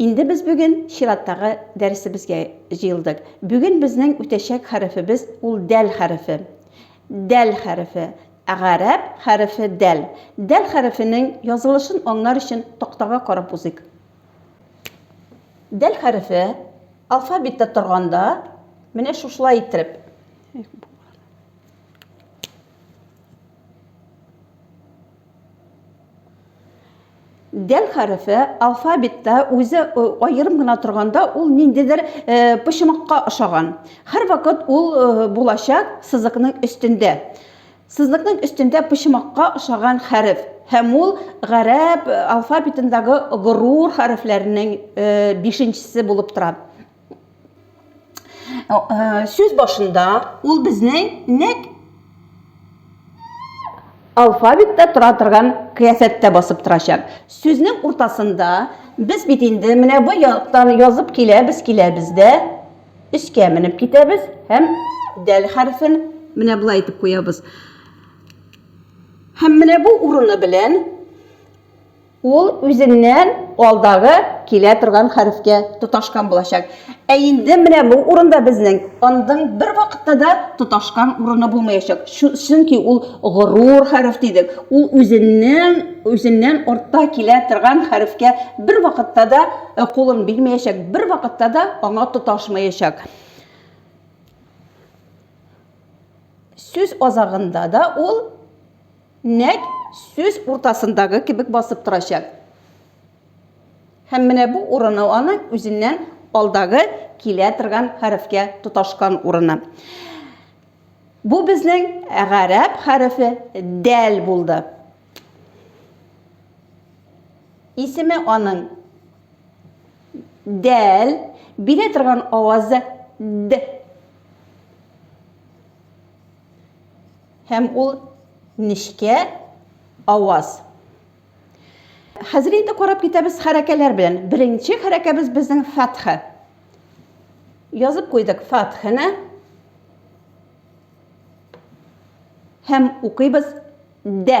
Инде без бүген чираттагы дәресебезгә җыелдык. Бүген безнең үтәчәк хәрефебез ул дәл хәрефе. Дәл хәрефе. Гарәп хәрефе дәл. Дәл хәрефенең язылышын аңлар өчен тактага карап узыйк. Дәл хәрефе алфавитта торганда менә шушылай иттереп Дәл хәрефе алфавитта үзе аерым гына торганда ул ниндидер почмакка ошаган. Һәрвакыт ул булачак сызыкның өстендә. Сызыкның өстендә почмакка ошаган хәреф һәм ул гарәп алфавитындагы горур хәрефләренең бишенчесе булып тора. Э, сүз башында ул безнең нәк алфавитта тора торган кыяфәттә басып торачак сүзнең уртасында без бит инде менә бу яктан язып киләбез киләбез дә өскә менеп китәбез һәм дәл хәрефен менә болай итеп куябыз һәм менә бу урыны белән Ул үзеннән алдагы килә торган хәрефкә тоташкан булачак. Ә инде менә бу урында безнең андың бер вакытта да тоташкан урыны булмаячак. Чөнки ул горур хәреф дидек. Ул үзеннән үзеннән артта килә торган хәрефкә бер вакытта да э, кулын бирмәячәк, бер вакытта да аңа тоташмаячак. Сүз азагында да ул Нәкъ сүз уртасындагы кебек басып торачак. Һәм менә бу урыны аның үзеннән алдагы килә торган хәрефкә тоташкан урыны. Бу безнең гарәп хәрефе дәл булды. Исеме аның дәл, бирә торган авазы д. Һәм ул нечкә аваз. Хәзер инде карап китәбез хәрәкәләр белән. Беренче хәрәкәбез безнең фәтха. Язып куйдык фәтхене. Һәм укыйбыз дә.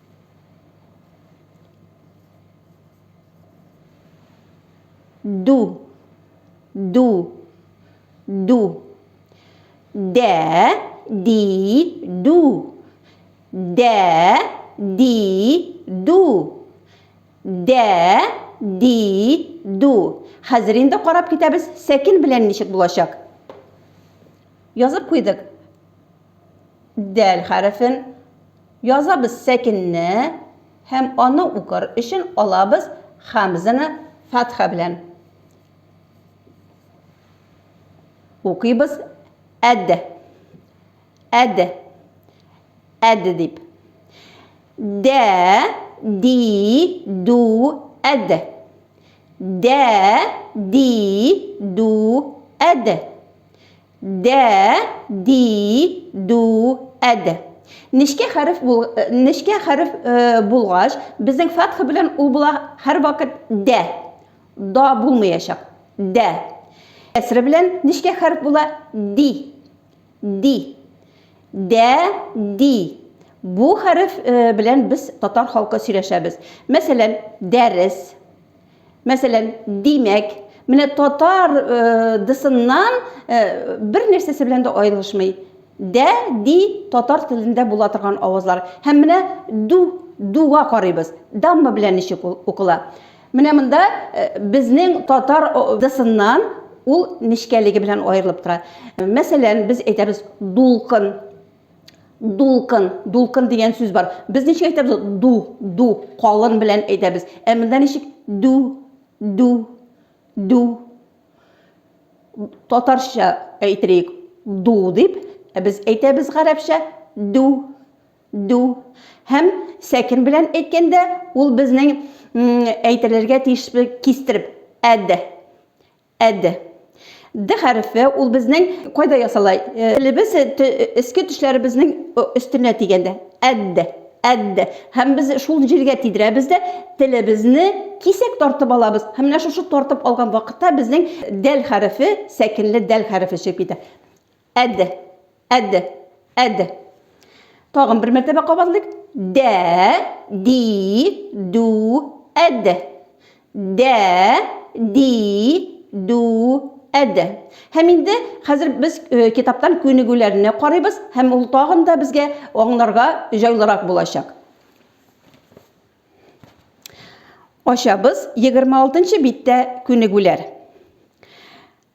ду ду ду дә ди ду дә ди ду дә ди ду хәзер инде карап китәбез сәкен белән ничек булачак язып куйдык дәл хәрефен Язабыз сәкенне һәм аны укыр өчен алабыз хәмзәне фәтха белән. Укыйбыз әд. Әд. Әд дип. Дә, ди, ду, әд. Дә, ди, ду, әд. Дә, ди, ду, әд. Нечкә хәреф бул, нечкә хәреф булгач, безнең фәтха белән ул була һәрвакыт дә. Да булмаячак. Дә. Кәсре белән нечкә хәреф була ди. Ди. Дә, ди. Бу хәреф белән без татар халкы сөйләшәбез. Мәсәлән, дәрес. Мәсәлән, димәк, менә татар дысыннан бер нәрсәсе белән дә аерылышмый. Дә, ди татар телендә була торган авазлар. Һәм менә ду, дуга карыйбыз. Дамма белән ничек ул укыла? Менә монда безнең татар дысыннан ул нечкәлеге белән аерылып тора. Мәсәлән, без әйтәбез дулкын. дулкын дулкын дигән сүз бар без ничек әйтәбез ду ду калын белән әйтәбез ә монда ничек ду ду ду татарча әйтерик ду дип ә без әйтәбез гарәпчә ду ду һәм сәкин белән әйткәндә ул безнең әйтелергә тиеш кистереп әд Әд. Д хәрефе ул безнең кайда ясала? Э, телебез э, эске төшләребезнең өстенә тигәндә. Әд. Әд. Һәм без шул җиргә тидерәбез дә телебезне кисәк тартып алабыз. Һәм менә шушы тартып алган вакытта безнең дәл хәрефе, сәкенле дәл хәрефе чыгып китә. Әд. Әд. Әд. Тагын бер мәртәбә кабатлыйк. Дә, ди, ду, әд. Дә, ди, ду, әд. Һәм инде хәзер без э, китаптан күнегүләрне карыйбыз һәм ул тагын да безгә аңларга җайлырак булачак. Ачабыз 26 биттә күнегүләр.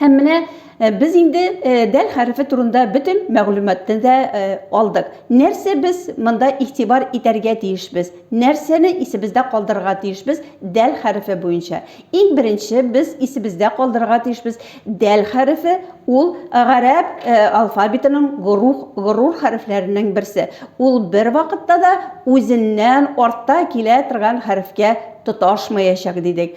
Һәм менә э, без инде э, дәл хәрефе турында бөтен мәгълүматны да э, алдык. Нәрсә без монда игътибар итәргә тиешбез? Нәрсәне исебездә калдырырга тиешбез дәл хәрефе буенча? Иң беренче без исебездә калдырырга тиешбез дәл хәрефе ул гарәп алфавитының горух горур хәрефләренең берсе. Ул бер вакытта да үзеннән артта килә торган хәрефкә тоташмаячак дидек.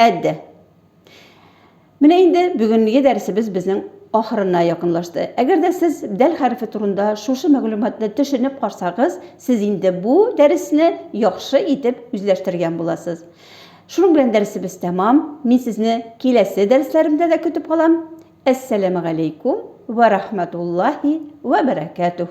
Әддә. Менә инде бүгенге дәресебез безнең ахырына якынлашты. Әгәр дә сез дәл хәрефе турында шушы мәгълүматны төшенеп карсагыз, сез инде бу дәресне яхшы итеп үзләштергән буласыз. Шуның белән дәресебез тәмам. Мин сезне киләсе дәресләремдә дә көтеп калам. Әссәләмәгаләйкүм вә рахмәтуллаһи вә бәрәкәтүһ.